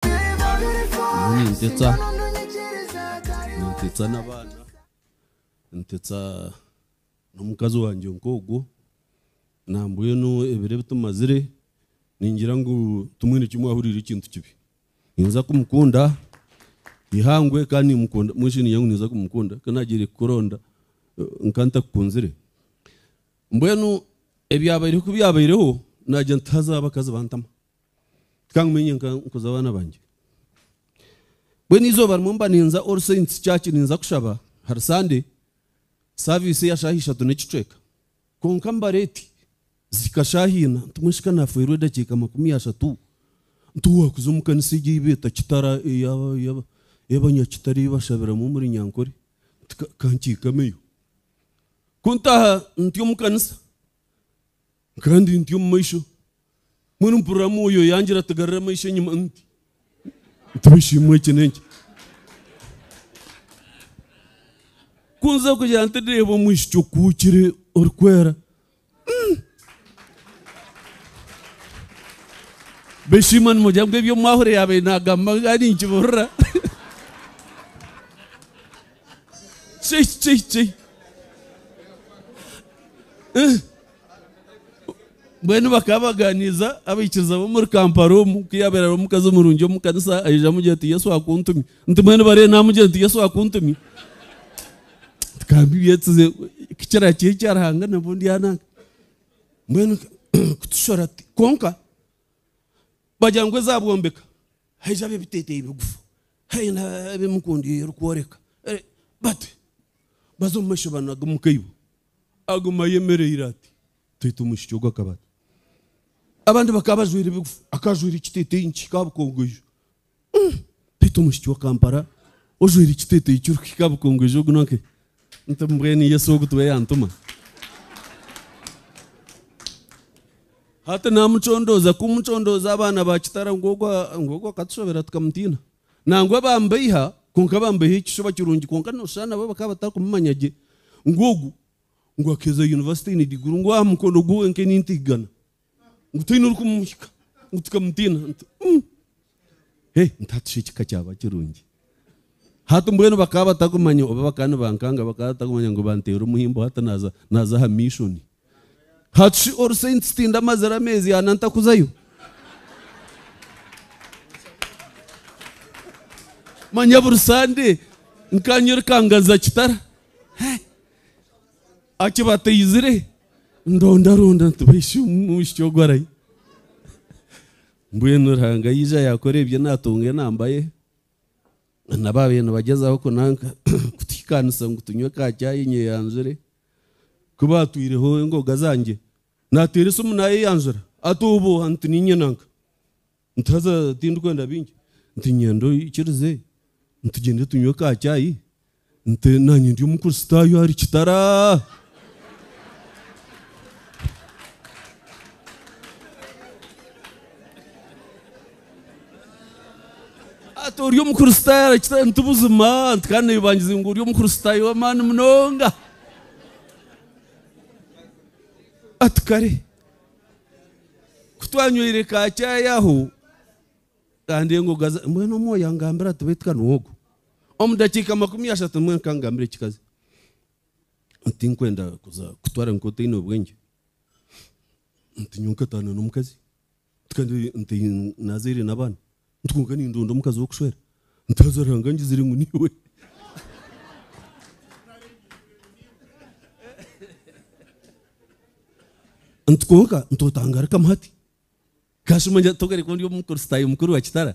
Nyowe nintetsa nintetsa n'abaana ntetsa n'omukazi wangye nk'ogwo nambwenu ebiro ebi tumazire ningira ngu timwine kimwe ahuriire ekintu kibi ninza kumukunda eihangwe kandi nimukunda mbwenu shi ningira ngu ninza kumukunda ku naagiire kukuronda nka ntakukunzire mbwenu ebyabaire ku byabaireho naagira nti haza abakazi bantama Tikangume nyenka nkuza abaana bangye. Mbwenu eizooba rimwe mba ninza All Saints Church ninza kushaba, hari Sande, saaviisi eya shaaha ishatu n'ekicweka. Kwonka mba reeti zihika shaaha ina, nti mweshe ka naafeerwa edakiika makumi ashatu, nti waakuza omu kanisa egi ei beeta Kitara ey'Abanyakitare ei bashabiramu omuri Nyankore, nti ka nkiikameyo. Ku ntaaha ntyo omu kanisa, Kandi nti omu maisho, mbwenu mpurira Mwoyo yangira ati garura amaisho enyima nti nti bishiimwe eki n'enki. Kunza kugira nti ndeeba omwishiki okuhukire orikwera. Mm. Beshiima nimugira ngu ebi omwahure yaabaire naagamba nga ninkiburira. Chei chei chei. Eh, Mbwenu bakaba baganiiza abaikiriza b'omuri Kampala omu, ku yaabaire ari omukazi murungi omu kanisa, aija amugira ati, Yesu akuntumye. Nti mbwenu bariyo naamugira nti Yesu akuntumye. Tikambi byetsize kukira ki ekya Ruhanga nabwo ndyananga. Mbwenu kutushora tuti kwonka bagira ngu eza bwombeka haija ab'ebiteteeyi bigufu, haine ab'emikundi erikworeka bati baza omu maisho banage omu kaibo. Aguma ayemereire ati, Twete omwishiki ogu akaba ata? Abandi bakaba bajwaire bigufu, akaba ajwaire ekiteteeyi nikihika aha bukongoijo. Twete omwishiki wa Kampala ojwaire ekiteteeyi kirikuhika aha bukongoijo ogu n'owahe? Nti, Mbwenu Yesu ogu tiwe yantuma? Hati naamucondooza, kumucondooza abaana ba kitara ngu ogu akatushobera tukamutiina. Nangwa bambeiha, kwonka bambeiha ekishuba kirungi kwonka noshusha nabo bakaba batarikumumanya gye ngu ogu ngu akaheza yunivasite aine diguru ngu aha mukono gwe wenka eni ntigana ngu taine orikumuhika ngu tukamutiina nti umm he nti hati shi ekika kyaba kirungi. Hati mbwenu bakaba batarikumanya oba bakaba nibankanga bakaba batarikumanya ngu banteera omuhimbo hati naza naza aha mishoni. Hati shi ori saint tindi amazire ameezi ana ntakuzayo? Manya buri sande nkanywa erikangaza kitara Hey! akibateizire ndondaronda nti baishi omwishiki ogu arahi mbwenu Ruhanga yaija yakora ebye natunga enamba ye nabo babire nibagyezaho kunanka kutuhikanisa ngu tunywe ka chai nyeyanzure ku baatwireho engoga zangye. Naateera esimu naayeyanjura ati, Obuuha nti niinye nanka. Nti haza tindikwenda bingi. Nti nyenda oikirize tugyende tunywe ka chai. Nti naanye ndi Omukristaayo ahari kitara. Ati ori omukristaayo arakira nti buzima nti kandi neebangiza ngu ori omukristaayo w'amaani munonga. Ati kare kutwanywire ka chai aho kandi engoga mbwenu omwoyo angambira ati baitu ka niwe ogu omu dakiika makumi ashatu mbwenu ka ngambire ekikazi nti tinkwenda kuza kutwara nk'otaine bwengye nti nyowe nkataana n'omukazi. Kandi nti nazaire n'abaana nti kwonka nindonda omukazi w'okushwera nti haza Ruhanga angizire ngu niiwe. Nti kwonka nti otangarikamu hati. Kashuma ngira togaruka ondi omukristaayo mukuru wa kitara